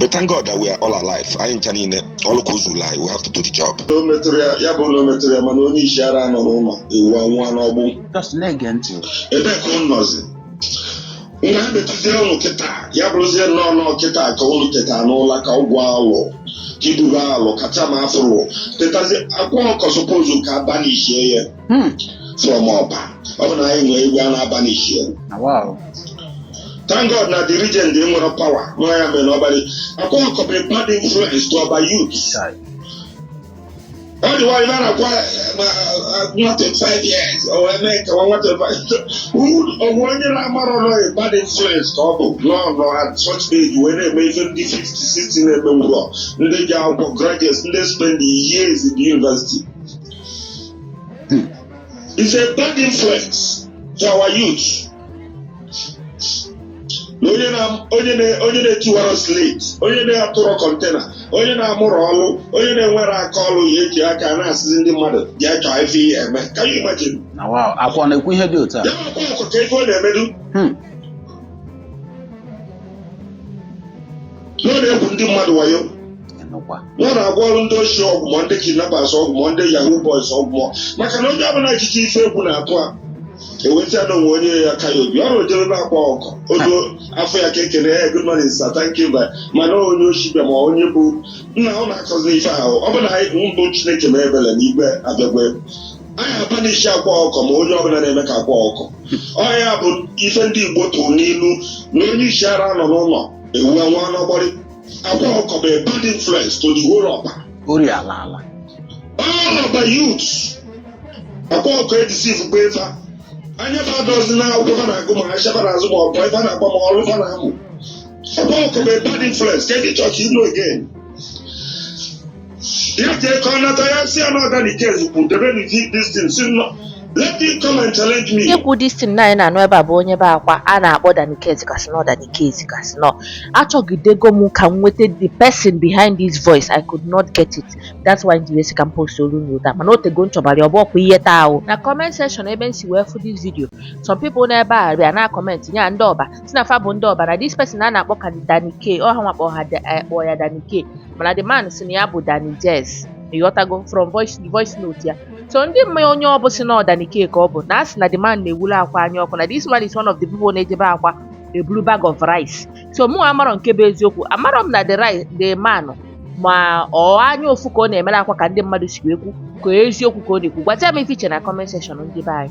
but thank God that we are all alive anyị ncha niile ọrụ ka ụzọ anyị we have to do the job o metụrụ ya ya bụ na o metụrụ ya mana onye isi ara nọ n'ụlọ ewu anwụọ n'ọgbụ just na-ege ntị ebe ka ụnụ nọzi nwa metụzie ụnụ kịta ya bụrụzie nnọọ nọọ kịta ka ụnụ teta n'ụla ka ụgwọ alụ ka ibugo alụ kacha ma afụrụ tetazie akwa ọkụkọ suppose ka a banishie ya hmm. from ọba ọ bụ na anyị nwee igwe a na-abanishi thank god na the regent nwere power nwa ya mere n'ọbalị akwa ọkụkọ bụ bad influence to ọba youth ọ dị nwaanyị mara kwa nwa 25 years o wee mee ka nwa 25 ọgwụ onye na-amara ọrụ ya bad influence ka ọ bụ n'ọnọ at such age wee na-eme ife ndị 50 60 na-eme ngwụrọ ndị ji akwụkwọ graduates ndị spend years in the university is a bad influence to our youth. onye na-etiwara slate onye na-atụrọ container onye na-amụrọ ọlụ onye na-enwerọ aka ọlụ ya eji aka na-asịzi ndị mmadụ je chọọ ife ị ya-eme can you imagine akwa na-ekwu ihe dị otu a ya akwa akwa kee ife ọ na-emedu hmm. na ọ na-egwu ndị mmadụ wayo ịnụkwa ya na-agwọrọ ndị oshi ọgwụ ma ndị kidnappers ọgwụ ma ndị yahoo boys ọgwụ ma maka na onye ọbụla echiche ife egwu na-atụ a eweta na onwe onye ya ka ya obi ọ rụjere na akwa ọkụkọ odo afọ ya ka ekene ya good morning sir thank you but mana onye oshi bịa ma onye bụ nna ọ na-akọzi ife ahụ ọ bụ na anyị bụ mbụ chineke mee ebele na igwe abịagwe anyị abanishi akwa ọkụkọ ma onye ọbụla na-eme ka akwa ọkụkọ ya bụ ife ndị igbo tụrụ n'ilu na onye isi ara nọ n'ụlọ ewu anwụọ n'ọgbụrị Akwa ọkụkọ bụ a bad influence to the whole ọba. Ori ala ala. All ọba youths. Akwa ọkụkọ edeceivego fa. Anya fa adọzi na akwụkwọ fa na-agụ ma ashịa fa na-azụ ma boyi fa na-agba ma ọrụ fa na-amụ. Akwa ọkụkọ bụ a bad influence. Kedu ị chọzi ịnụ again? If they come out, I see another the case. Put the very this thing. See, no. Let him come and challenge me. Ikwu this thing na anyị na-anụ ebe a bụ onye be akwa a na-akpọ Danikezi Kasino Danikezi Kasino achọgidego m ka m nweta the person behind this voice I could not get it that's why m ji wee sị ka m postolu ụnụ ya mana o tego m chọbara ọbụ ọkwa ihe taa ahụ na comment section ebe m si wee fụ this video some people n'ebe a bịa na comment nye ndị ọba si na fa bụ ndị ọba na this person a na-akpọ ka Danike ọha nwakpọ ha eh, kpọ ya Danike mana the man si na ya bụ Danny Jess ịghọtago from voice voice note ya so ndị ma onye ọ bụ si na ọ Danike ka ọ bụ na a sị na the man na-ewelu akwa anya ọkụ na this man is one of the people na-eje be akwa eburu bag of rice so mụ amarọ nke bụ eziokwu amarọ m na the man ma ọ anya ụfụ ka ọ na-emere akwa ka ndị mmadụ si ekwu ka eziokwu ka ọ na-ekwu gwata m ife i che na comment section ndị be anyị